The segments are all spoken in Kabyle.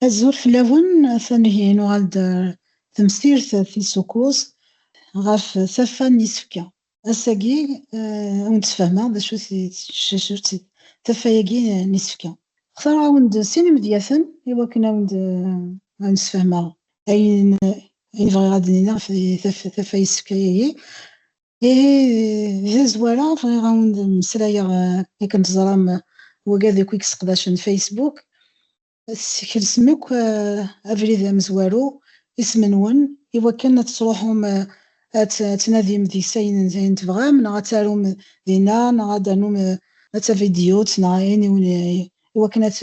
Azul fell-awen, atan ihi nuɣal-d temsirt tis ukuẓ ɣef taffa n yisefka. Ass-agi, ad wen-d-sfehmeɣ d acu-t tcacurt, taffa-agi n isefka. Xtareɣ-awen-d sin imedyaten i wakken ad wen-d-sfehmeɣ ayen i bɣiɣ ad d-nini ɣef taffa n yisefka-agi. Ihi, di tazwara, bɣiɣ ad wen-d-mmeslayeɣ, akken teẓram, wagi ad akk i yesseqdacen Facebook, Teskelsem akk abrid amezwaru, isem-nwen, i wakken ad tesruḥum ad tnadim deg-s ayen tebɣam, neɣ ad tarum dinna, neɣ ad d-ternum d tavidyut, neɣ ayen i wakken ad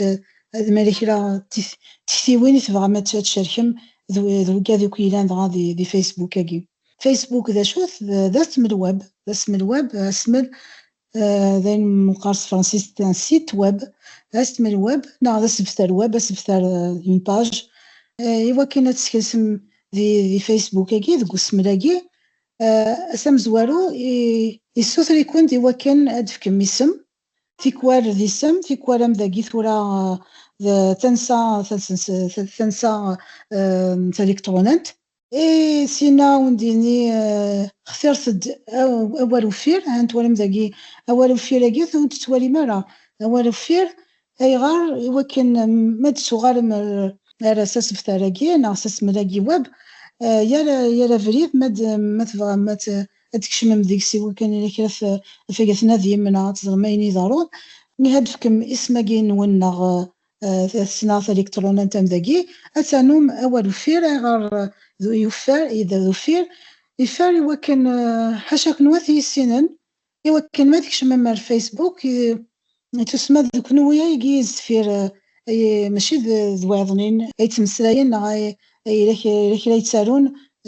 ma yella kra tiktiwin i tebɣam ad tcerkem d wegad akk yellan dɣa di Facebook-agi. Facebook d acu-t? D asmel web, d asmel web, asmel D ayen meqqar s tefransist d un site web, d asethmel web neɣ d asebter web, asebter d une page, i wakken ad teskelsem di Facebook-agi, deg usmel-agi s amezwaru yessuter-ikun-d i wakken ad d-tefkem isem, tikwal d isem, tikwal am dagi tura d tansa, tansa taliktṛunant, I sin-a ur d-yenni xtiret-d awal uffir, ha twalam dagi awal uffir-agi ur t-tettwalim ara, awal uffir ayɣer? I wakken ma d-tuɣalem ar s asebtar-agi neɣ s asmel-agi web, yal abrid ma tebɣam ad d-tkecmem deg-s i wakken yella kra i d-tnadim neɣ ad teẓrem ayen iḍerrun, mi ha d-tefkem isem-agi-nwen neɣ Tasna talikṭrunant am dagi, ad ternum awal uffir, ayɣer d yuffer, yedder d uffir, iffer i wakken ḥaca kunwi ad t-yissinen, i wakken ma tkecmem ar Facebook, tussma d kunwi ay yezz deffir, ay maci d wayeḍnin ay yettmeslayen neɣ yella kra ay ttarun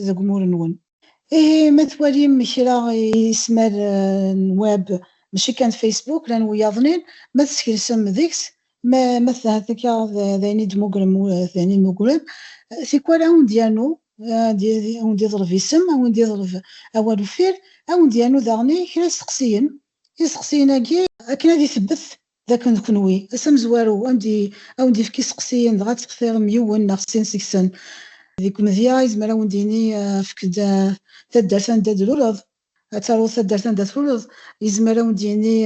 deg umur-nwen. Ihi ma twalim kra ismar n web, maci kan Facebook, llan wiyaḍnin, ma teskelsem deg-s, Ma ma tɛedda kraḍ d ayen i d-mugrem d ayen i d-mugrem, tikwal a wen-d-yernu, a wen-d-yeḍreb isem, a wen-d-yeḍreb awal uffir, a wen-d-yernu daɣen i kra isteqsiyen, isteqsiyen-agi, akken ad itebbet d akken d kenwi, ass amezwaru, a wen-d-yefk isteqsiyen dɣa ad textirem yiwen neɣ sin seg-sen. Deg umedya, yezmer a wen-d-yini efk-d taddart anda d-tluleḍ, Ad taruḍ taddart anda tluleḍ, yezmer awen-d yini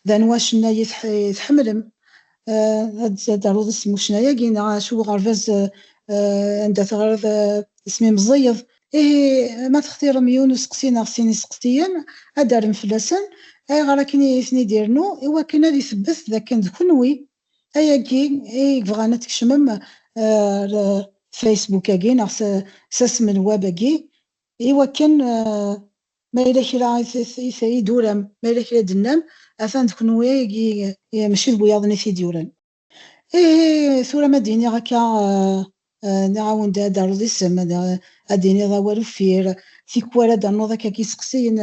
d anwa acennay i tḥemmlem, ad taruḍ isem n ucennay-agi neɣ acu n uɣerbaz anda teɣriḍ isem i meẓẓiyeḍ. Ihi ma textirem yiwen n useqsi neɣ sin iseqsiyen, ad d-terrem fell-asen ayɣer akken i ten-id-irennu i wakken ad itbet d akken d kenwi ayagi i yebɣan ad tkecmem ar Facebook-agi neɣ s asem n web-agi I wakken ma yella kra i d-turam, ma yella kra i d-tennam, atan d kenwi i mačči d wiyaḍ-nni i t-id-yuran. Ihi tura ma d-iniɣ akka, nniɣ-awen-d ad d-terreḍ isem, ad d-tiniḍ awal uffir, tikwal ad d-ternuḍ akka deg yiseqsiyen,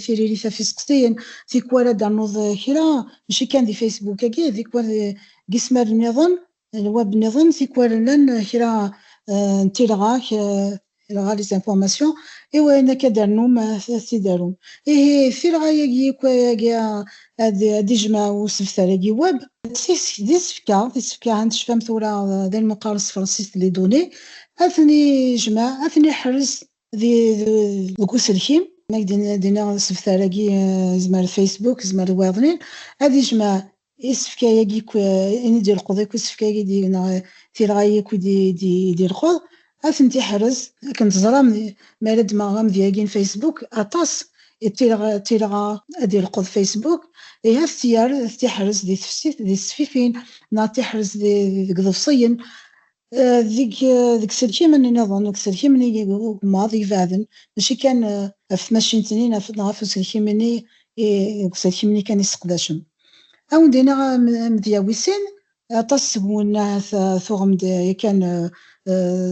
tiririt ɣef yiseqsiyen, tikwal ad d-ternuḍ kra, mačči kan di Facebook-agi, tikwal deg yismaren-nniḍen, D lweb niḍen, tikwal llan kra n tilɣak, tilɣa, les informations, i wayen akka d-rnum ad t-id-arum. Ihi d tilɣa-yagi i wagi ad d-ijmeɛ usebter-agi web. D isefka, d isefka, ha tecfam tura d ayen meqqaren s tefransist les données, ad ten-ijmeɛ, ad ten-iḥrez deg uselkim, ma ak d-iniɣ asebter-agi yezmer d Facebook, yezmer d wayeḍnin, ad ijmeɛ isefka-agi akk i d-ileqqeḍ, akk isefka-agi i d-yegna, tilɣa-yi akk i d-ileqqeḍ, ad tent-iḥrez, akken teẓram mi ara ddmeɣ amedya-agi n Facebook, aṭas n tilɣa i d-ileqqeḍ Facebook, ihi ad t-yerr, ad t-iḥrez di tefsit, di tesfifin, neɣ ad t-iḥrez deg iḍebsiyen, Deg yiselkimen niḍen, deg yiselkimen i yigmaḍ ibeɛden, mačči kan ɣef tmacint-nni neɣ ɣef uselkim-nni, deg yiselkimen-nni kan i sseqdacen. Ad awen-d-iniɣ amedya wis sin, aṭas seg-wen ahat tuɣem-d yakan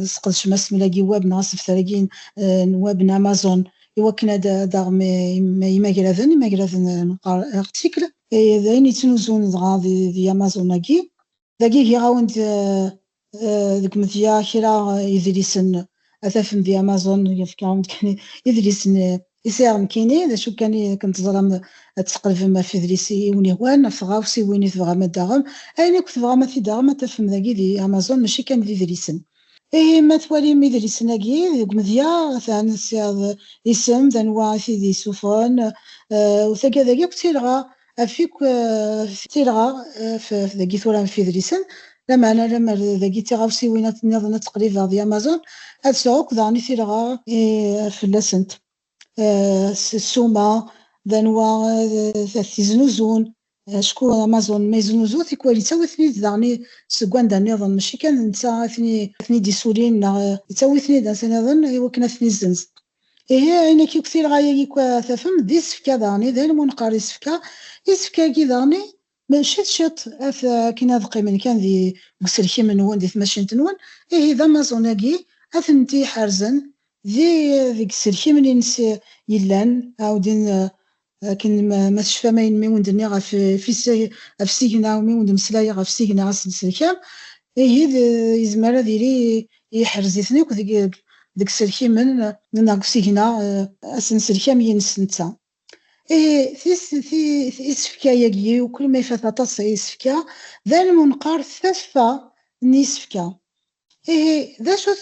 tesqedcem asmel-agi n web neɣ asebter-agi n web n Amazon i wakken ad d-taɣem imagraden, imagraden neqqar articles, d ayen yettnuzun dɣa di Amazon-agi. Dagi giɣ-awen-d deg umedya kra idlisen ad tafem di Amazon, yefka-awen-d kan idlisen i sɛiɣ nekkini, d acu kan i akken teẓram ad tesqelbem ɣef idlisen i wen-ihwan, ɣef tɣawsiwin i tebɣam ad d-taɣem, ayen akk tebɣam ad t-id-taɣem ad tafem dagi di Amazon mačči kan d idlisen. Ihi ma twalim idlisen-agi deg umedya atan tesɛiḍ isem d anwa i t-id-yessuffɣen u taggad-agi akk d tilɣa af akk tilɣa dagi tura f idlisen, lameɛna lemmer dagi d tiɣawsiwin niḍen ad ttqellibeɣ di Amazon, ad sɛuɣ akk daɣen i tilɣa fell-asent, s ssuma d anwa ad t-iznuzun, acku Amazon ma yeznuzu tikwal yettawi-ten-id daɣen seg wanda niḍen, mačči kan d netta i ten-id-yessulin neɣ yettawi-ten-id anda niḍen i wakken ad ten-izzenz. Ihi, ayen akka akk tilɣa-agi akk ara tafem, d isefka daɣen, d ayen umi neqqar isefka. Isefka-agi daɣen, ciṭ ciṭ, akken ad qqimen kan deg uselkim-nwen, di tmacint-nwen, ihi d Amazon-agi ad tent-iḥerzen deg yiselkimen-nnes yellan, ɛawden akken ma tecfam ayen mi wen-d-nniɣ ɣef isigna, mi wen-d-meslayeɣ ɣef isigna aselselka, ihi yezmer ad yili yeḥrez-iten akk deg yiselkimen neɣ deg usigna asenselki am yines netta. Ihi isefka-agi, ukrem ifat aṭas isefka, d ayen wen-qqar taffa n yisefka, Ihi, d acu-t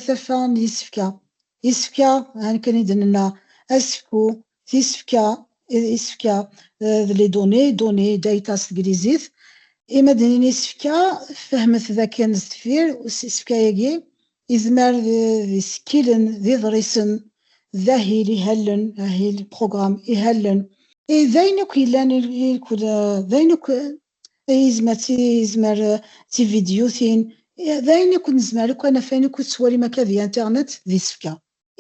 tafa n yisefka? Isefka, akken i d-nenna, asefku, tisefka, isefka, d les données, données, data s teglizit. I ma d-nini isefka, fehmet d akken sdeffir isefka-agi, izmer d isekkilen, d iḍrisen, d ahil ihallen, ahil, programme, ihallen, d ayen akk yellan, d ayen akk Izmer d izmer d tividyutin, d ayen akk nezmer akk ad naf, ayen akk i tettwalim akka di internet d isefka.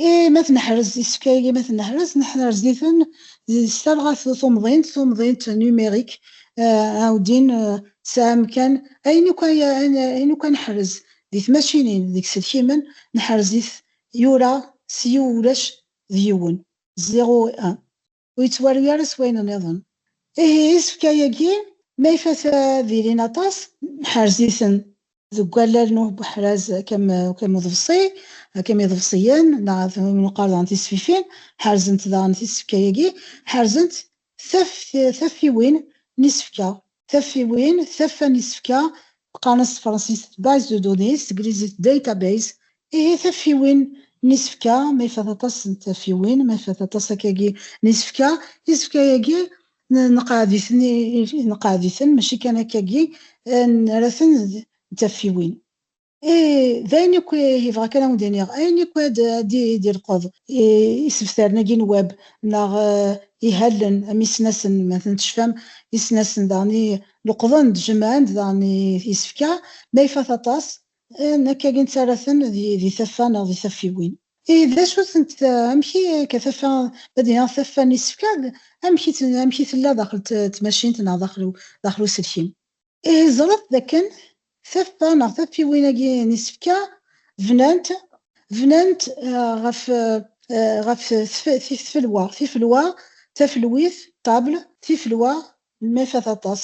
I ma tneḥrez isefka-agi, i ma tneḥrez, neḥrez-iten s talɣa tumḍint, tumḍint numérique, ɛawdin, tesɛa amkan, ayen akk ay, ayen akk ad neḥrez di tmacinin, deg iselkimen, neḥrez-it yura s yiw ulac d yiwen, zéro et un. ur yettwarwi ara s wayen nniḍen. Ihi isefka-agi ma ifat ad ilin aṭas, nḥerz-iten deg wallal n uḥraz Akam uḍebṣi, Akam iḍebṣiyen, neɣ d win yeqqar daɣen tisfifin, ḥerzent daɣen tisefka-agi, ḥerzent taffiwin n yisefka, Tafiwin, Taffa n yisefka, qqaren-as s tefransist base de données, s teglizit database. Ihi tafiwin n yisefka, ma ifat aṭas n tafiwin, ma ifat aṭas akkagi n yisefka, isefka-agi neqɛed-iten, neqɛed-iten mačči kan akkagi, nerra-ten d tafiwin. إيه d ayen akk yebɣa kan ad wen-d-iniɣ, ayen akk ad d-ileqeḍ isebtaren-agi n web neɣ ihallen am yisnasen, ma atan tecfam, isnasen daɣen i leqḍen-d, jemɛen-d daɣen isefka, ma ifat aṭas, nekkagi nettarra-ten di taffa neɣ di taffiwin. Ihi d acu-tent, amek i, akka taffa, ma d-iniɣ taffa n yisefka, amek i tella daxel tmacint neɣ daxel uselkim? Ihi ẓret d akken taffa neɣ taffiwin-agi n isefka bnant bnant ɣef ɣef tfelwa tifelwa tafelwit table tifelwa ma ifat aṭas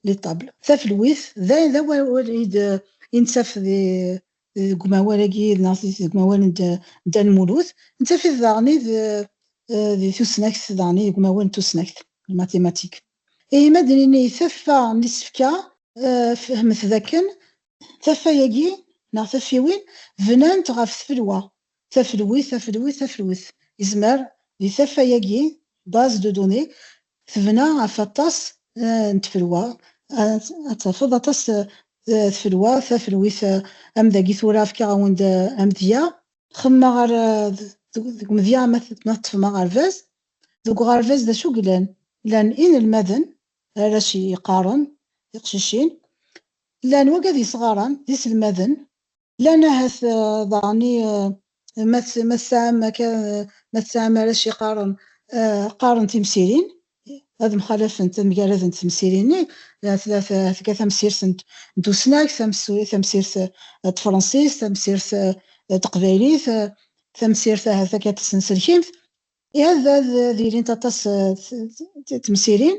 les tables tafelwit d ayen d awal i d i nettaf di deg umawal-agi neɣ deg umawal n Dda Lmulud nettaf-it daɣen i d di tusnakt daɣen i deg umawal n tusnakt les mathématiques Ihi ma d-nini taffa n isefka, fehmet dakken taffa-agi neɣ taffiwin bnant ɣef tfelwa, tafelwit, afelwit, tafelwet. Yezmer di taffa-agi, base de données, tebna ɣef aṭas n tfelwa, ad tafeḍ aṭas tfelwa, tafelwit, am dagi tura fkiɣ-awen-d amedya. Xemmemeɣ deg umedya ma teṭṭfem aɣerbaz, Deg uɣerbaz d acu yellan? Llan inelmaden, arrac yeqqaren, tiqcicin. Llan wagad yesɣaren, d iselmaden. Llan ahat daɣen i, ma tesɛam akka, ma tesɛam arrac yeqqaren, qqaren timsirin, ad mxalafent, ad mgaradent temsirin-nni, tga tamsirt n tusnakt, tamsirt n tefransist, tamsirt n teqbaylit, tamsirt ahat akka n tsenselkimt. Iɛedda ad d-ilint aṭas n temsirin,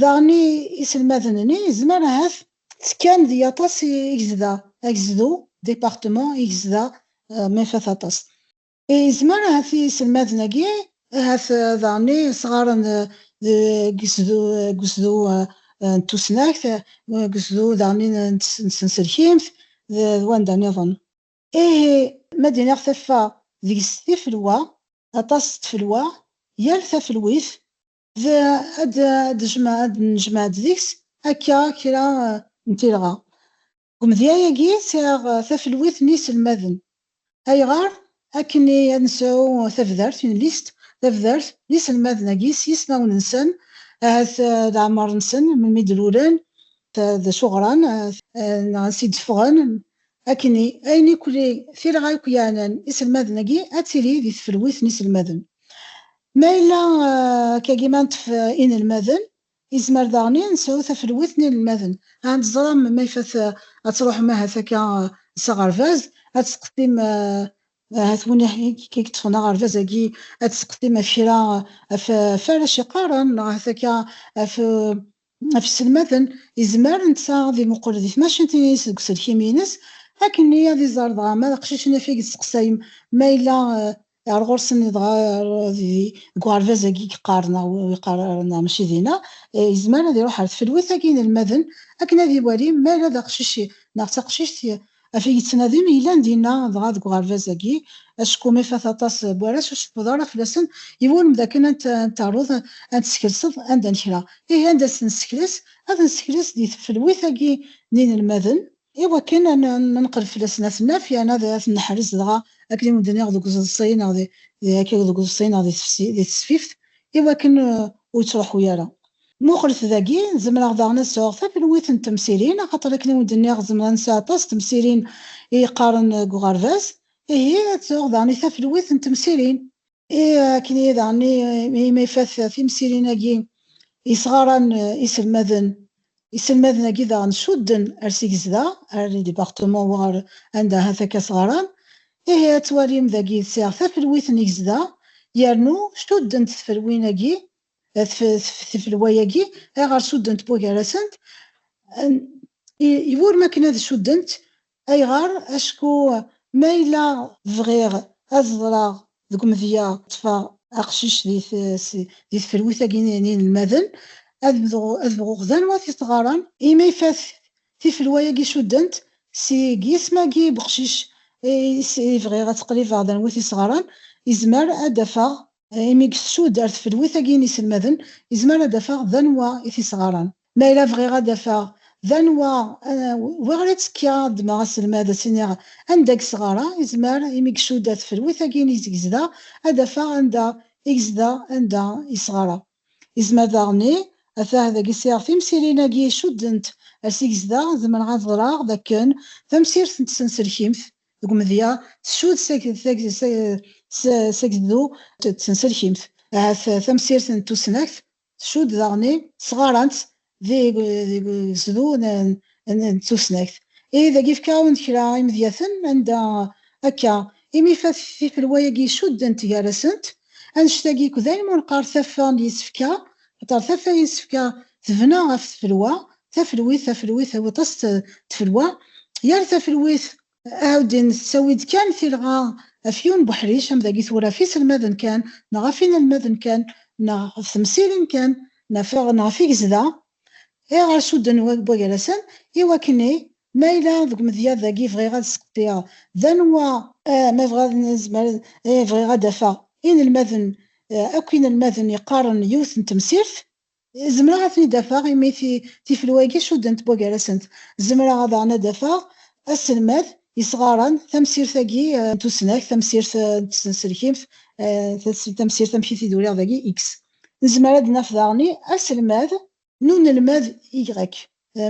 daɣen iselmaden-nni yezmer ahat ttekkan deg aṭas i gezda, agezdu, département, i gezda Mefat aṭas. Yezmer ahat iselmaden-agi ahat daɣen i sɣaren deg usdu n tusnakt, deg usdu daɣen n tsenselkimt d wanda niḍen. Ihi, ma d-iniɣ taffa deg-s tifelwa, aṭas n tfelwa, yal tafelwit d ad d-nejmeɛ-d deg-s akka kra n tilɣa. Deg umedya-agi, sɛiɣ tafelwit n yiselmaden. Ayɣer? Akken i ad nesɛu tabdart, une liste, tabdart n yiselmaden-agi s yismawen-nsen, ahat leɛmer-nsen, melmi d-lulen, d acu ɣran, neɣ ansi d-ffɣen, Akkenni, ayen i kli tirɣa i k-yeɛnan iselmaden-agi ad tili di tfelwit n iselmaden. Ma yella akkagi ma neṭṭef inelmaden, yezmer daɣen i nesɛu tafelwit n inelmaden. Ad tẓrem ma ifat ad truḥem ahat akka s aɣerbaz, ad testeqsim ahat win i k-yeṭṭfen aɣerbaz-agi, ad testeqsim ɣef kra, ɣef warrac yeqqaren neɣ ahat akka ɣef Ɣef yisselmaden, yezmer netta ad imuqel di tmacint-nni-is deg uselkim-ines, akken-nni ad iẓer dɣa ma d aqcic-nni ɣef i yesteqsayem, ma yella ar ɣur-sen dɣa deg uɣerbaz-agi i yeqqar neɣ ur yeqqar ara neɣ mačči dinna, yezmer ad iruḥ ar tfelwit-agi n yinelmaden akken ad iwali ma yella d aqcic neɣ d taqcict Afeg yettnadi yellan dinna dɣa deg uɣerbaz-agi, acku mi ifat aṭas n warrac ur tceffuḍ ara fell-asen, iwulem dakken ad n-taruḍ ad n-teskelseḍ anda n kra. Ihi anda ad ten-nessekles? Ad ten-nessekles di tfelwit-agi n yinelmaden, i wakken ad neqreb fell-asen, ad ten-naf yerna ad ten-neḥrez dɣa akken i wen-d-nniɣ deg uẓeḍṣi neɣ deg tesfift, i wakken ur yettruḥu ara. Muqlet dagi, zemreɣ daɣen ad sɛuɣ tafelwit n temsirin, axaṭer akken i wen-d-nniɣ zemreɣ ad nesɛu aṭas n temsirin i yeqqaren deg uɣerbaz. Ihi, ad sɛuɣ daɣen i tafelwit n temsirin. I akken ihi daɣen i ma ifat timsirin-agi yesɣaran iselmaden, iselmaden-agi daɣen cudden ar s i gezdeɣ, ar le département war anda ahat akka sɣaran, ihi ad twalim dagi sɛiɣ tafelwit n i gezdeɣ yernu cuddent tfelwin-agi tfelwa-agi ayɣer suddent bugar-asent iwurem akken ad suddent ayɣer acku ma yella bɣiɣ ad ẓreɣ deg umedya ṭṭfeɣ aqcic di tfelwit-agi n yinelmaden ad bɣuɣ d anwa t ɣaran imi ifat tifelwa-agi suddent seg yisem-agi n uqcic i bɣiɣ ad ttqribeɣ d anwa t ɣaran izmer ad d-afeɣ imi deg tsudert tfelwit-agi n yiselmaden izmer ad d-afeɣ d anwa i t-isɣaren. Ma yella bɣiɣ ad d-afeɣ d anwa wi ara ttekkiɣ ad ddmeɣ aselmad ad s-iniɣ anda gesɣara, izmer imi deg tsudert tfelwit-agi n izeg gezdeɣ ad d-afeɣ anda i gezdeɣ anda isɣara. Izmer daɣen i, atah dagi sɛiɣ timsirin-agi icuddent ar s i gezdeɣ, zemreɣ ad ɣreɣ d akken tamsirt n tsenselkimt, Deg umedya, tsud Sageddu d tsenselkimt, ahat tamsirt n tusnakt, tsud daɣen sɣarant deg usdu n tusnakt. Ihi dagi yefka-awen-d kra imedyaten anda akka imi ifat tifelwa-agi isuddent gar-asent annect-agi, kdayen ma neqqar taffa n yisefka Axaṭer taffa yessefka tebna ɣef tfelwa, tafelwit, tafelwit, tawiṭ-as d tfelwa, yal tafelwit, Ɛuddin tettawi-d kan tilɣa afyun n uḥric am dagi tura ɣef iselmaden kan neɣ ɣef inelmaden kan neɣ ɣef temsirin kan neɣ ɣef igezda i ɣer sudden n wagrasen i wakken i Ma yella deg umedya dagi bɣiɣ ad sqeddiɣ, d anwa? Ah, ma bɣiɣ ad nezmer ad, ih, bɣiɣ ad d-afeɣ inelmaden, akk inelmaden yeqqaren yiwet n temsirt. Zemreɣ ad ten-id-afeɣ imi ti, tifelwa-agi cuddent wa gar-asent. Zemreɣ daɣen ad d-afeɣ aselmad yesɣaṛen tamsirt-agi n tusnakt, tamsirt n tsenselkimt, tamsirt amek i t-id-uriɣ dagi, ix. Nezmer ad d-naf daɣen i aselmad. n unelmad Y.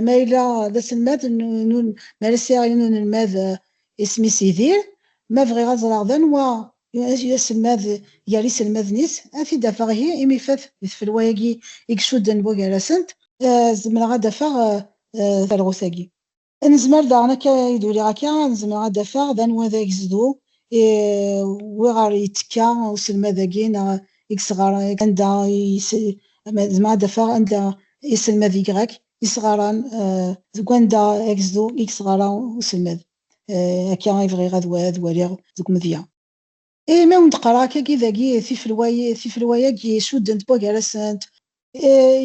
Ma yella d aselmad n ma ara sɛiɣ yiwen unelmad isem-is Yidir, ma bɣiɣ ad ẓreɣ d anwa i d aselmad gar yiselmaden-is, ad t-id-afeɣ ihi imi ifat di tfelwa-agi i icudden bugar-asent. Zemreɣ ad d-afeɣ talɣut-agi. Nezmer daɣen akka i d-uliɣ akka ad zemreɣ ad d-afeɣ d anwa d agezdu i wiɣer yettekka uselmad-agi neɣ i yesɣaran anda zemreɣ ad d-afeɣ anda iselmad y yesɣaran deg wanda agezdu i yesɣara uselmad akka i bɣiɣ ad waliɣ deg umedya. Imi awen d-qqareɣ akkagi dagi tifelwa-ya i d-isuddent n wagar-asent,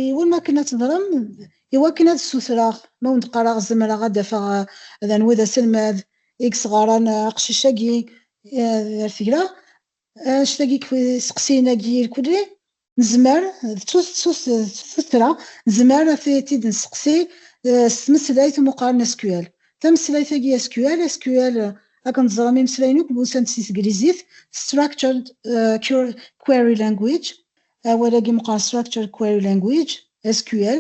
iwulem akken ad teḍrem, iwakken ad ssutreɣ ma awen d-qqareɣ zemreɣ ad d-afeɣ d anwa i d aselmad i yesɣaṛen aqcic-agi ar tegla, anect-agi n yisteqsiyen-agi irkelli Nezmer, d tuttra, nezmer ad t-id-nesteqsi s tmeslayt umuqar n SQL. Tameslayt-agi SQL, SQL, akken teẓram imeslayen akk busant si teglizit, Structured Query Language, awal-agi meqqar Structured Query Language, SQL,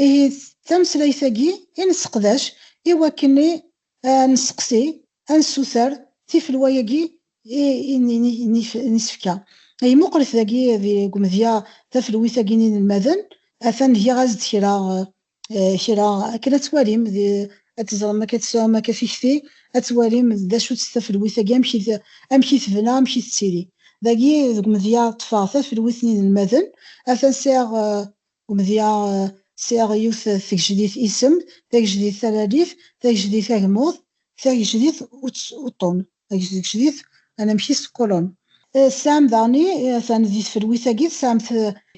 ihi d tameslayt-agi i nesseqdac i wakken Ad nesteqsi, ad nessuter tifelwa-agi i nisefka. Imuqel-it dagi deg umedya tafelwit-agi n yinelmaden, atan giɣ-as-d kra, kra, akken ad twalim, ad teẓrem, ad tesɛum akka tikti, ad twalim d acu-tt tafelwit-agi, amek i, amek i tebna, amek i tettili. Dagi deg umedya ṭṭfeɣ tafelwit n yinelmaden, atan sɛiɣ Umedya sɛiɣ yiwet tgejdit isem, tagejdit taralit, tagejdit agmuḍ, tagejdit uṭṭun, tagejdit anamek-is d colonne. Tesɛam daɣen, atan di tfelwit-agi, tesɛam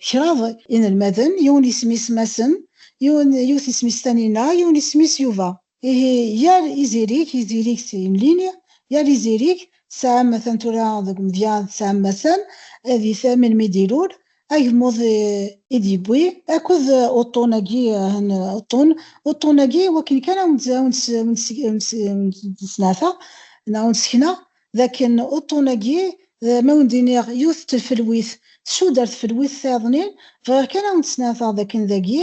kraḍ inelmaden, yiwen isem-is Massen, yiwen yiwet isem-is Tanina, yiwen isem-is Yuba. Ihi yal izirig, izirig s yimlili, yal izirig tesɛa matan tura deg umedya tesɛa matan ad ifhem melmi i d-ilul, agmuḍ i d-yewwi akked uṭṭun-agi, ahan uṭṭun, uṭṭun-agi i wakken kan awen-d-sneɛtaɣ neɣ awen-d-sekneɣ d akken uṭṭun-agi ma awen-d-iniɣ yiwet n tfelwit tcudd ar tfelwit tayeḍnin, bɣiɣ kan awen-d-sneɛtaɣ d akken dagi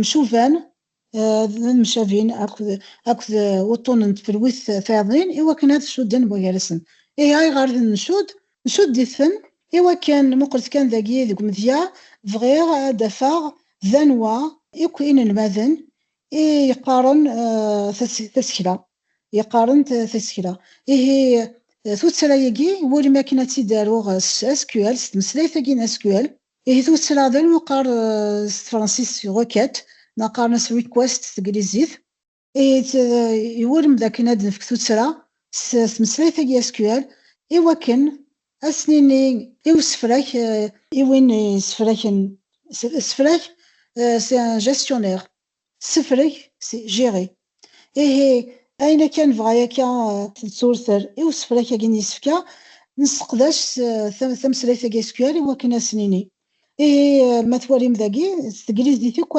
Mcuban, d mcabin akked wuṭṭunen n tfelwit tayaḍin i wakken ad cudden buygarasen. Ihi ayɣer d ncudd? Ncudd-iten i wakken, muqlet kan dagi deg umedya, bɣiɣ ad d-afeɣ d anwa akk inelmaden i yeqqaren tasekla, yeqqaren tasekla. Ihi tuttra-agi, iwulem akken ad tt-id-aruɣ s SQL, s tmeslayt-agi n SQL. Ihi tuttla d ayen uqqar s tefransist requête neɣ qqaren-as request s teglizit. Ihi d iwulem d akken ad nefk tuttla s tmeslayt-agi SQL i wakken ad s-nini i usefrak, i win yessefraken sefrak s un gestionnaire, Tessefreg si, gérer. Ihi, ayen akka nebɣa akka d turter i usefrak agi n yisefka, nesseqdac tameslayt agi SQL i wakken ad s-nini. Ihi, ma twalim dagi, s teglizit akk,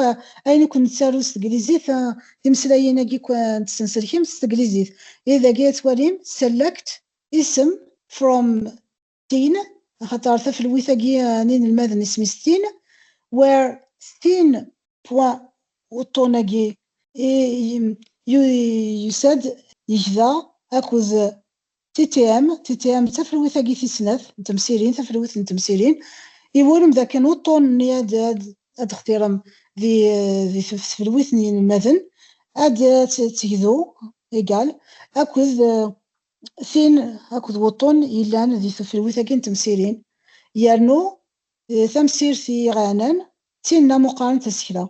ayen akk nettaru s teglizit, timeslayin agi akk n tsenselkimt s teglizit. Ihi dagi ad twalim select isem from tin axaṭer tafelwit-agi eh, n inelmaden isem-is tin where tin pwa uṭṭun-agi yusa-d yegda akked TTM, TTM d tafelwit-agi tis snat n temsirin, tafelwit n temsirin, iwulem d akken uṭṭun-nni ad d-xtirem di tfelwit n yinelmaden ad tt-tegdu egal akked tin akked wuṭṭun yellan di teflwit-agi n temsirin, yernu tamsirt i iɣaɛnan d tinna muqqaren tasekla.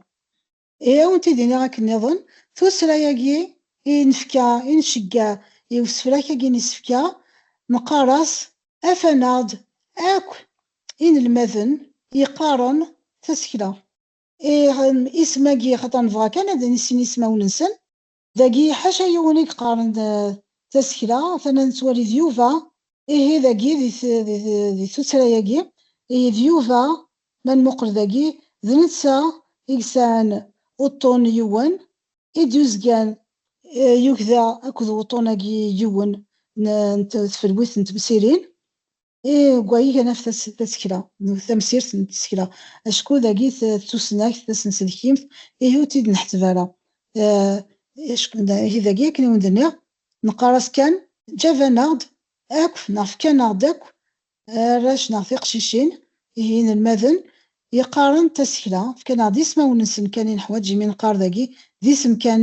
Ihi ad awent-id-iniɣ akken niḍen, tuttra-agi i nefka, i nceggeɛ i usefrak-agi n isefka, neqqar-as afan-aɣ-d akk inelmaden yeqqaren tasekla. Ih, isem-agi xaṭer nebɣa kan ad nissin ismawen-nsen. Dagi ḥaca yiwen i yeqqaren tasekla tama nettwali d Yuba, ihi dagi di tuttra-yagi, ihi d Yuba ma nmuqel dagi d netta i yesɛan uṭṭun yiwen, i d-yuzgan yugda akked wuṭṭun-agi yiwen n tfelwit n temsirin, Deg-wa i gan ɣef tasekla, tamsirt n tsekla, acku dagi tusnakt tasenselkimt ihi ur tt-id-neḥseb ara. Ihi dagi akken i wen-d-nniɣ, neqqar-as kan ǧǧaban-aɣ-d akk neɣ fkan-aɣ-d akk arrac neɣ tiqcicin, ihi inelmaden yeqqaren tasekla, fkan-aɣ-d ismawen-nsen kan i neḥwaǧ imi neqqar dagi d isem kan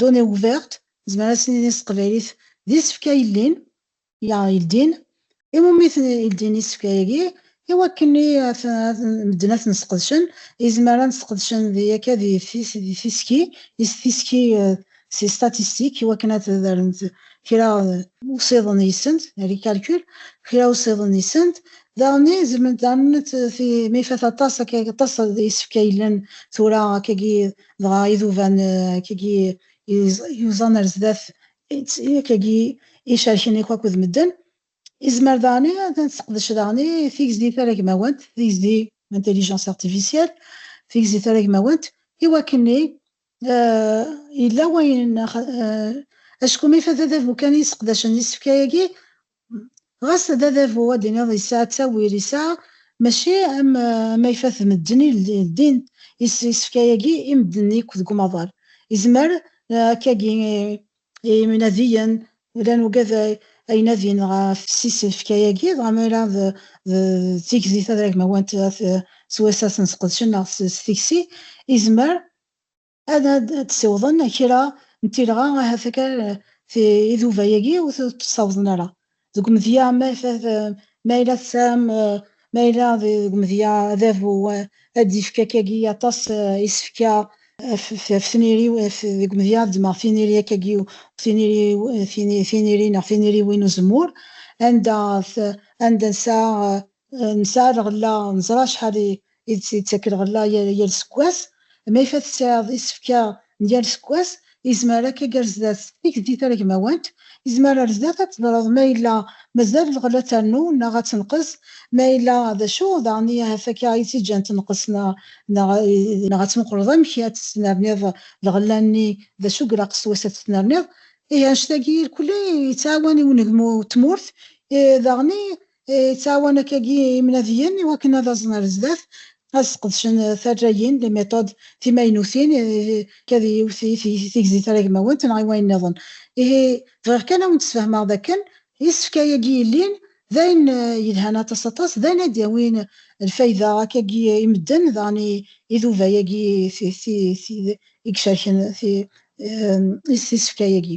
Données ouvertes, nezmer ad s-nini s teqbaylit d isefka yellin, ya yeldin, i wumi ten-yeldin isefka-agi, i wakken i medden ad ten-sqedcen, izmer ad sqedcen di akka di tiski, is tiski si statistique, i wakken ad rren kra usiḍen yis-sent, les calculs, kra usiḍen yis-sent, daɣenni zemrent daɣen ad, mi ifat aṭas akka aṭas isefka yellan tura akkagi, Dɣa iduban akkagi yuẓan ar zdat akkagi icerken akk akked medden, izmer daɣen ad tesseqdec daɣen tigzi taragmawant, tigzi intelligence artificielle, tigzi taragmawant, iwakken-i yella wayen acku mi fadadabu kan i yesseqdacen isefka-agi, Ɣas d adabu ad d-tiniḍ yesɛa ttawil, yesɛa, mačči am ayfat n medden i ldin isefka-agi i medden yakk deg umaḍal. Yezmer akkagi i yinadiyen, llan ugad ay nadin ɣef isefka-agi, dɣa ma yella d tigzi tadragmawant s wass-a ad ten-sqedcen neɣ s tikci, yezmer ad d-ssiwḍen kra n tilɣa ahat akal iduba-agi ur t-ssawḍen ara deg umedya ma yella tesɛam ma yella deg umedya adabu ad d-yefk akagi aṭas isefka ɣef tniri deg umedya ad ddmeɣ tiniri akagi tiniri neɣ tiniriwin n uzemmur anda nesɛa Nesɛa lɣella, neẓra acḥal i d-tettak lɣella yal sekwas. Ma yif ad tesɛiḍ isefka n yal sekwas, yezmer akka gar zdat tikti taragmawant, yezmer ar zdat ad teḍreḍ ma yella mazal lɣella trennu neɣ ad tenqes, ma yella d acu daɣen i ahat akka i tt-iǧǧan tenqes neɣ. Neɣ ad tmuqleḍ amek ad tesnerniḍ lɣella-nni, d acu i ilaq s wass ad t-tnerniḍ. Ihi anect-agi irkelli yettɛawan i unegmu n tmurt, daɣen Yettɛawan akkagi imnadiyen i wakken ad aẓen ar zdat, ad sqedcen tarrayin, les méthodes, timaynutin, kad yiwet i tigzi taragmawant neɣ i wayen niḍen. Ihi, bɣiɣ kan ad wen-d-sfehmeɣ d akken isefka yagi yellin d ayen yelhan aṭas aṭas, d ayen ad d-yawin lfayda akkagi i medden daɣen i iduba yagi i icerken isefka yagi.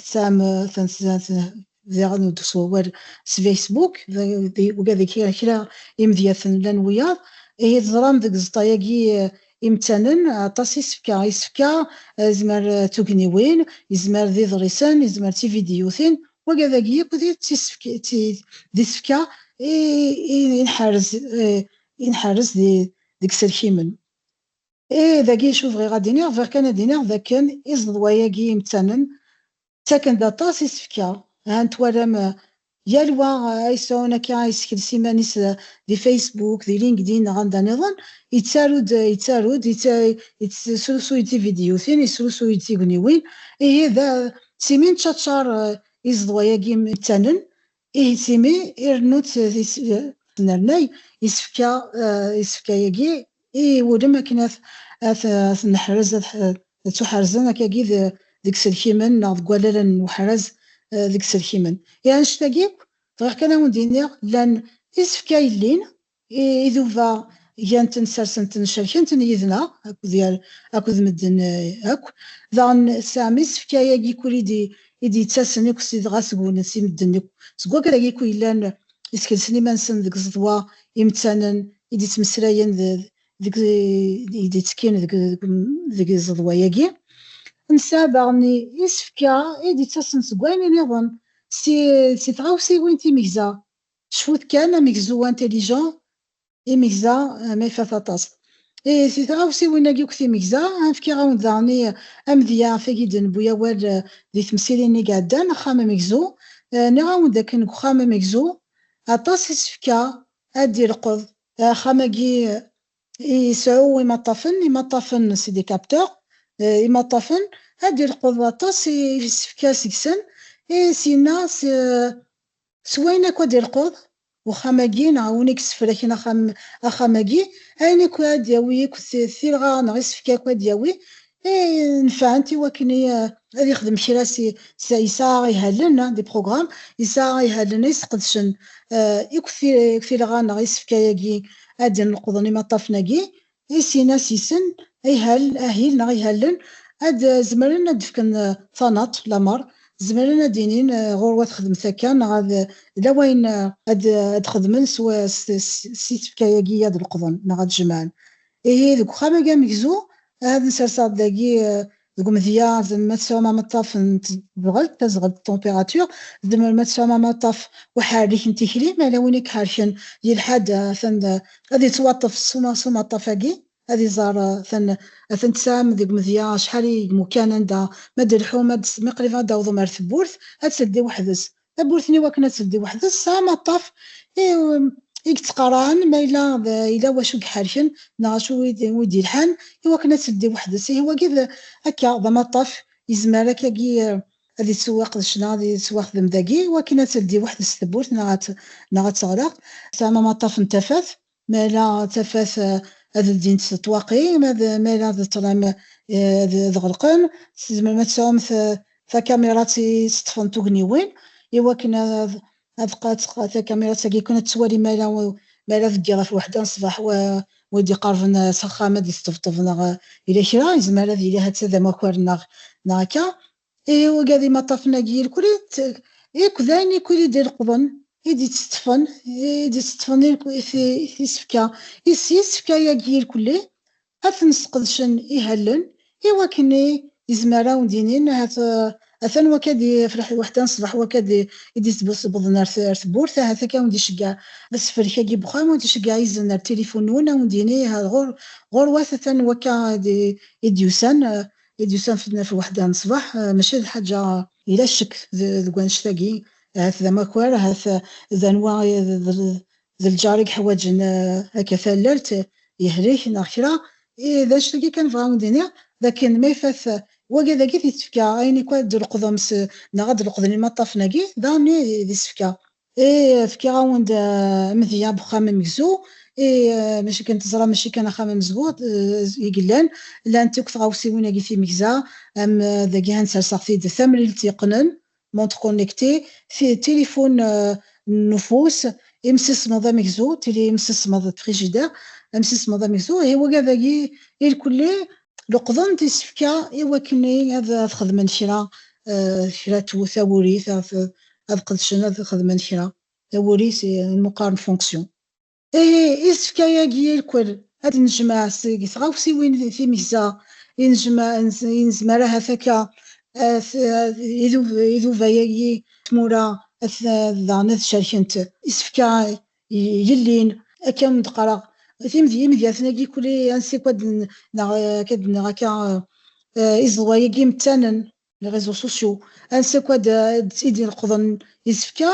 Tesɛam tantzant daɣen ur d-teswawal s Facebook, uga deg kra imedyaten llan wiyaḍ. Ihi teẓram deg ẓeṭṭa-agi imettanen aṭas isefka. Isefka yezmer d tugniwin, yezmer d iḍrisen, yezmer d tividyutin. Waga dagi akk d isefka i nḥerrez deg iselkimen. Ih, dagi acu bɣiɣ ad d-iniɣ, bɣiɣ kan ad d-iniɣ d akken iẓeḍwa-agi imettanen ttaken-d aṭas isefka. Han twalam yal wa ay yesɛun akka ay yessekles iman-is di Facebook, di LinkedIn neɣ anda niḍen, yettaru-d, yettaru-d, yesrusuy-d tividyutin, yesrusuy-d tigniwin. Ihi, d simi neččaččar iẓeḍwa-agi imettanen, Ihi simi irennu-tt di tesnernay, isefka isefka-agi i wulem akken ad t-neḥrez, ad ttuḥerzen akka-agi deg iselkimen neɣ deg wallalen n weḥraz deg iselkimen. I annect-agi akk, bɣiɣ kan ad awen-d-iniɣ llan isefka yellin Iduba gan-ten, sersen-ten, cerken-ten yid-neɣ akked medden akk. Daɣen tesɛam isefka-agi i kul i d-yettasen akk si dɣa seg-wen, si medden akk, seg wakk-agi i kul yellan iskelsen iman-nsen deg ẓeḍwa imettanen i d-yettmeslayen deg i d-yettekkin deg ẓeḍwa-agi. Nesɛa daɣen isefka i d-yettasen seg wayen-nniḍen, si tɣawsiwin timegza. Cfut kan, amegzu intelligent, imegza, ma ifat aṭas. Ihi si tɣawsiwin-agi akk timegza, ad fkiɣ-awen-d daɣen i amedya af wagi i d-newwi awal di temsirin i iɛeddan, axxam amegzu. Nniɣ-awen-d akken deg uxxam amegzu, aṭas isefka ad d-ileqḍ. Axxam-agi iseɛɛu imaṭṭafen, imaṭṭafen c'est des capteurs, imaṭṭafen, ad d-ileqḍ aṭas isefka seg-sen, i syenna s S wayen akk ad d-irquḍ uxxam-agi neɣ win i yessefraken axxam, axxam-agi, ayen akk ara d-yawi akk tirɣa neɣ isefka akk ad d-yawi, i inefɛen i wakken i ad ixdem kra si, yesɛa ihalen, des programmes, yesɛa ihalen i sqedcen akk tirɣa neɣ isefka-agi ad d-nleqḍen imaṭṭafen-agi, I sin asisen, ihal, ahil neɣ ihalen, ad zemren ad d-fken tanaṭ, lamer, zemren ad d-inin ɣur-wa ad xedmet akka neɣ ad yella wayen ad d-xedmen s si tefka-agi ad leqḍen neɣ ad jemɛen. Ihi deg uxxam-agi amegzu, ad nserseɣ-d dagi deg umedya ma tesɛum ameṭṭaf n tezɣelt, tazɣelt d température, tzemrem ad tesɛum amaṭṭaf uḥerrik n tikli, ma yella win i iḥerken yelḥa-d atan ad yettwaṭṭef s umaṭṭaf-agi, ad iẓer atan atan tesɛam deg umedya acḥal i yemukkan anda ma d-telḥum ma qrib ad d-tawḍem ar tewwurt ad teldi weḥd-s Tawwurt-nni wakken ad teldi weḥd-s tesɛa amaṭṭaf i i yettqarɛen ma yella yella wacu i iḥerken neɣ acu i d-yelḥan i wakken ad teldi weḥd-s. Ihi wagi d akka d amaṭṭaf yezmer akagi ad yettewwiq d ccna, ad yettwaxdem dagi i wakken ad teldi weḥd-s tewwurt neɣ ad neɣ ad teɣleq. Tesɛam amaṭṭaf n tafat, Ma ala d tafat ad ldint ṭṭwaqi, ma ala d ṭṭlam ad ɣelqen. Tzemrem ad tesɛum takamirat i ţeṭṭfen tugniwin i wakken ad takamirat-agi kan ad teţwali ma ala deg ɣef weḥda n ṣṣbeḥ wi d-iqerben s axxam ad d-iţeṭṭebṭeb neɣ yella kra, yezmer ad yili ha-ţ-a d amakar neɣ akka. I uga d imaṭṭafen agi irkuli ikk d ayen ikk id ileqḍen, id itteṭṭfen, id itteṭṭfen irk isefka. Is yisefka yagi irkuli ad ten sqedcen ihallen i wakken i izmer awen d inin ahat atan wakka d ifreḥ lweḥda n ṣbeḥ wakka d i d ittbewwḍen ar tewwurt ahat akka awen d iceggeɛ asefrek agi n wexxam awen d iceggeɛ izen ar tilifun nwen awen d yini iha ɣur ɣur wat atan wakka id yusan Idyusan fedden ɣef weḥda n ṣṣbeḥ, maca d ḥaǧa. Yella ccek deg wannect-agi, ahat d amakar, ahat d anwa d lǧar i yeḥwaǧen akka tallalt, yehlek neɣ kra. I d annect-agi kan bɣiɣ ad wen-d-iniɣ, d akken ma ifat wagi ad ak-it-id-tefka ayen akk ad d-tleqḍem neɣ ad d-leqḍen imaṭṭafen-agi, daɣen i d isefka. I fkiɣ-awen-d amedya bexxam amegzu, i maca akken teẓram mačči kan axxam amezgu i yellan, llant akk tɣawsiwin agi timegza, am dagi han serseɣ-t-id, tamlilt yeqqnen, montre connectée, tilifun n ufus, imsismeḍ amegzu, tili imsismeḍ, frigidaire, amsismeḍ amegzu, ihi wagi dagi irkelli. Leqḍen-d isefka i wakken ad xedmen kra, kra tawuri, ad qedcen ad xedmen kra, d awul-is imuqar n fonction. Ihi, isefka-agi irkel ad d-nejmeɛ seg tɣawsiwin timegza i nezmer ahat akka iduba-agi tmura daɣen ad cerkent isefka yellin, akka mi d-qqareɣ imedyaten-agi kuli ansi akk ad d-nniɣ akka iẓeḍwa-agi metanen les réseaux sociaux ansi akk ad i d-ineqḍen isefka,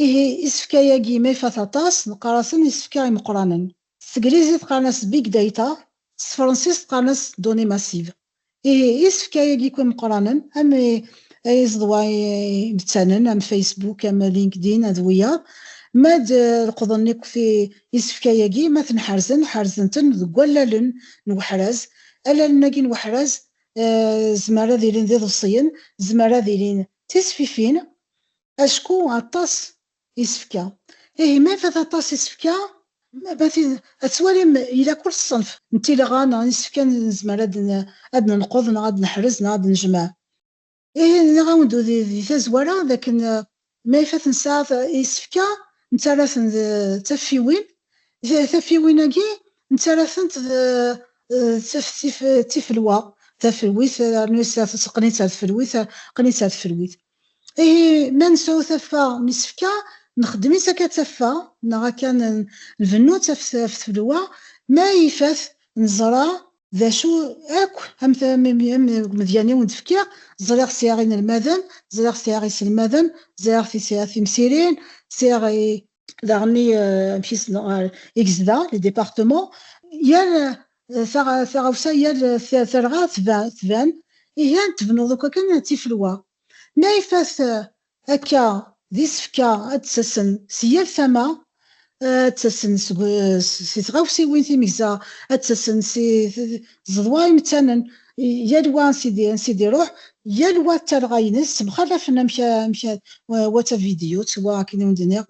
ihi isefka-agi ma ifat aṭas neqqar-asen isefka imeqqranen. S teglizit qqaren-as big data, s tefransist qqaren-as données massives. Ihi isefka-agi akk imeqqranen am iẓeḍwa imettanen am Facebook, am LinkedIn ad wiyaḍ, ma ad leqḍen akk isefka-agi ma ten-ḥerzen, ḥerzen-ten deg wallalen n weḥraz, allalen-agi n weḥraz Zemmer ad ilin d iḍebsiyen, zemmer ad ilin d tisfifin, acku aṭas isefka. Ihi ma ifat aṭas isefka, ad twalim ila kull ṣṣenf n tileɣɣa neɣ n yisefka nezmer ad d-nenqeḍ neɣ ad d-neḥrez neɣ ad d-nejmeɛ. Ihi nniɣ-awen-d di tazwara d akken ma ifat nesɛa isefka nettarra-ten d taffiwin, taffiwin-agi nettarra-tent d tifelwa, tafelwit rnu teqqen-itt ar tfelwit, qqen-itt ar tfelwit. Ihi ma nesɛu taffa n isefka nxeddem-itt akka d taffa neɣ akka nbennu-tt af tfelwa, ma ifat neẓra d acu akk am medyan-iw ur d-fkiɣ, ẓriɣ sɛiɣ inelmaden, ẓriɣ sɛiɣ iselmaden, ẓriɣ sɛiɣ timsirin, sɛiɣ i. Daɣen i amek i sneɣ ɣer i gezdeɣ, les départements, yal taɣawsa, yal tarɣa tban, ihi ad tebnuḍ akk akken d tifelwa, ma ifat Akka, d isefka ad d-ttasen si yal tama, ad d-ttasen si tɣawsiwin timegza, ad d-ttasen si tzeḍwa imettanen, yal wa ansi d-iruḥ, yal wa d talɣa-ines, ttemxalafen amek wa d tavidyut, wa akken i wen-d-nniɣ,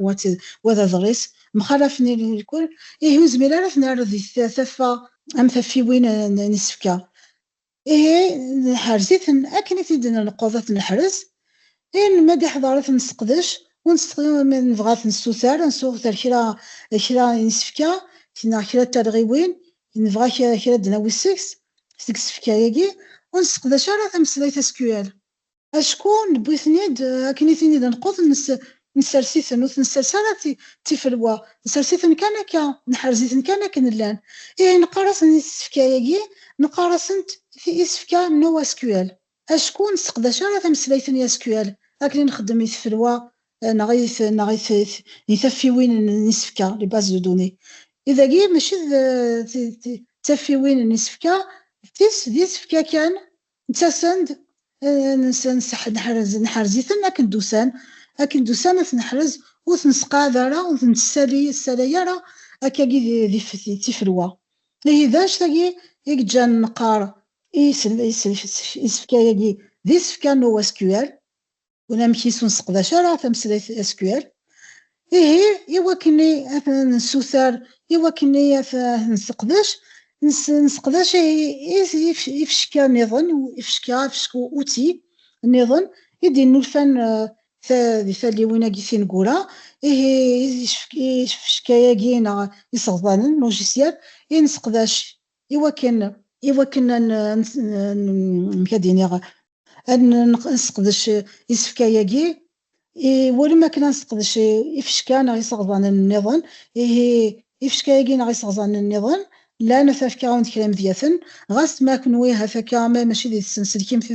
wa d aḍris, mxalafen ilkul, ihi ur nezmir ara ad ten-nerr di taffa am taffiwin n isefka. ihi nḥers-iten akken i t-id-nelqeḍ ad t-neḥrez, ayen ma d-iḥḍer ad t-nesseqdec, ur nesteqdec ma nebɣa ad t-nessuter, ad nessuter kra kra n yisefka neɣ kra n talɣiwin, nebɣa kra ad d-nawi seg-s, seg yisefka-agi, ur nesseqdac ara tameslayt SQL. Acku newwi-ten-id akken i ten-id nqud, nessers-iten, ur ten-nessers ara d tifelwa, nessers-iten kan akka, neḥrez-iten kan akken llan. Ihi neqqar-asen i tsefka-agi, neqqar-asent isefka NoSQL, acku ur nesseqdac ara tameslayt n SQL akken i nxeddem i tfelwa neɣ i taffiwin n yisefka, les bases de données. I dagi mačči d taffiwin n yisefka, d tis d isefka kan Nettasen-d, nseḥrez, neḥrez-iten akken d-usan, akken d-usan ad ten-neḥrez, ur ten-nesseqɛad ara, ur ten-nessalay ara akkagi d tifelwa. Ihi d act-agi i yeǧǧan neqqar isefka-agi d isefka n OSQL. unamek-is ur nseqdac ara tameslayt SQL. Ihi, iwakken ad nessuter, iwakken ad nesseqdac, nesseqdac ifecka niḍen, ifecka, ifecka uti niḍen, i d-innulfan di talliwin-agi tineggura, ihi ifecka-agi neɣ iseɣḍanen, logiciel, i nesseqdac iwakken iwakken amek ad iniɣ ad nesseqdec isefka-agi iwulem akken ad nesseqdec ifecka neɣ iseɣẓanen nniḍen, ihi ifecka-agi neɣ iseɣẓanen nniḍen llan ad fkeɣ-awen-d kra imedyaten, ɣas ma kenwi ha akka ma mačči d tsenselkimt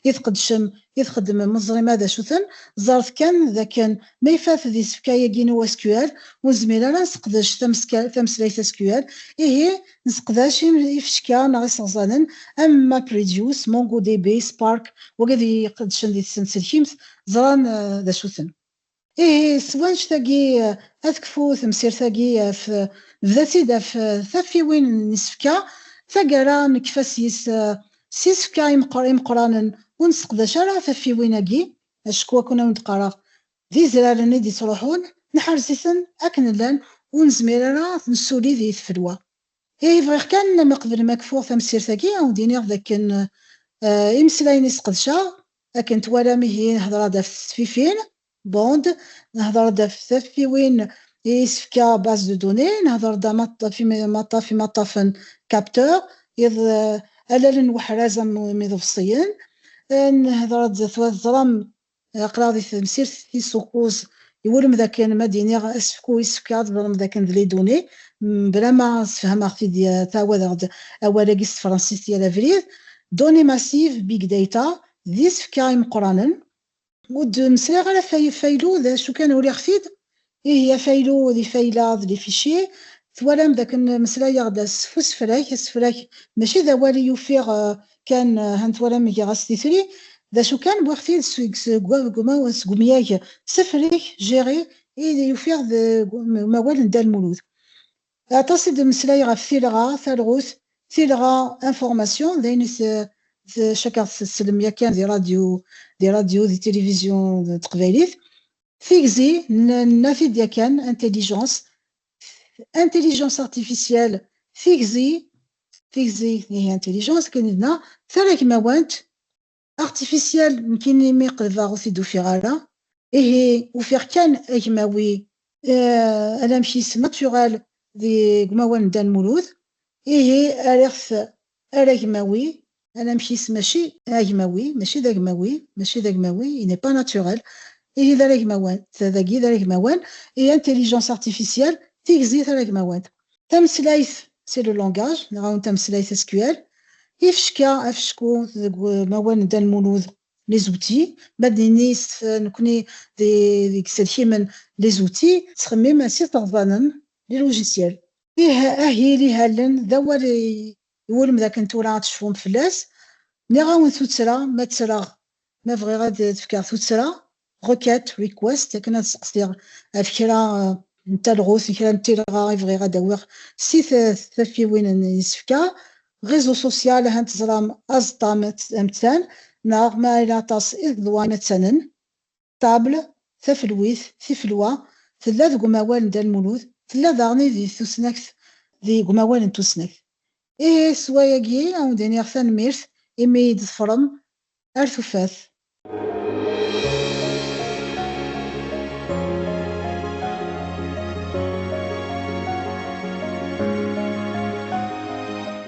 i tqeddcem i txeddmem ur teẓrim ara d acu-ten, ẓret kan d akken ma ifat d isefka-agi n uSQL ur nezmir ara ad nesseqdec tameslayt SQL, ihi Nesseqdac ifecka neɣ iseɣzanen am MapReduce, MongoDB, Spark, wagi ad iyi-qedcen di tsenselkimt, ẓran d acu-ten. Ihi, s wanect-agi, ad tekfu temsirt-agi af, nebda-tt-id af taffiwin n isefka, taggara nekfa sys s isefka imeqqranen, ur nesseqdac ara taffiwin-agi, acku akken awen-d-qqareɣ, D izraren i d-ittruḥun, neḥrez-iten akken llan, ur nezmir ara ad t-nessulid i tfelwa. Ihi bɣiɣ kan, ma qeblem ad kfuɣ tamsirt-agi, ad wen-d-iniɣ d akken imeslayen i sqedceɣ, akken twalam, ihi nhedder-d ɣef tesfifin, bond, nhedder-d ɣef taffiwin i isefka, base de données, nhedder-d ɣef imaṭṭafen, capteurs, iḍ allalen n weḥraz am iḍebsiyen, nhedder-d, teẓram, Aql-aɣ di temsirt tis ukuz. Iwulem dakken ma d-iniɣ asefk-u yessefk ad ḍelmeḍ akken d Liduni, mebla ma sefhameɣ-t-id ttɛawadeɣ-d awal-agi s tefransist yal abrid, Données massives, Big Data, d isefka imeqqranen. Ur d-meslayeɣ ara ɣef faylu, d acu kan uliɣ-t-id Ihi afaylu d ifayla d les fichiers, twalam dakken meslayeɣ-d s usefrak, asefrak maci d awal i ufiɣ kan, han twalam giɣ-as titri, d acu kan wwiɣ-t-id seg umyag sefrek, gérer, i d-ufiɣ deg umawal n Dda Lmulud. Aṭas i d-temmeslay ɣef tilɣa, talɣut, tilɣa, information, d ayen i cakkeɣ tettlem yakan di radyu, di radyu, di tilivizyu n teqbaylit. Tigzi, naf-id yakan intelligence, intelligence artificielle, tigzi, tigzi ihi intelligence akken i d-naɣ, taragmawant, artificielle nekkini mi qelbeɣ ur t-id-ufiɣ ara, ihi ufiɣ kan agmawi anamek-is naturel deg umawal n Dda Lmulud, ihi rriɣ-t Aragmawi, anamek-is mačči d agmawi, mačči d agmawi, mačči d agmawi, il n'est pas naturel, ihi d aragmawan, ta dagi d aragmawan, et intelligence artificielle, tigzi taragmawant. Tameslayt, c'est le langage, neɣ un tameslayt sql. Ifecka, afecku, deg umawal n Dan Mulud, les outils, ma d-nenni s nekkni d iselkimen, les outils, ttxemmimen s iseɣẓanen, les logiciels. Ih, ahil ihalen d awal iwulem dakken tura ad tecfum fell-as. Nniɣ-awen tuttra, ma ttreɣ, ma bɣiɣ ad d-fkeɣ tuttra, requête, request, akken ad seqsiɣ ɣef kra n talɣut, kra n tilɣa i bɣiɣ ad d-awiɣ si taffiwin n yisefka. Réseau social, ahat teẓram aẓeṭṭa amettan, neɣ ma yella aṭas iḍeḍwan attanen. Table, tafelwit, tifelwa, tella deg umawal n Dda Lmulud, tella daɣen di tusnakt. Deg umawal n tusnakt. Ihi s wayagi ad wen-d-iniɣ tanemmirt imi i d-teffrem ar tufat.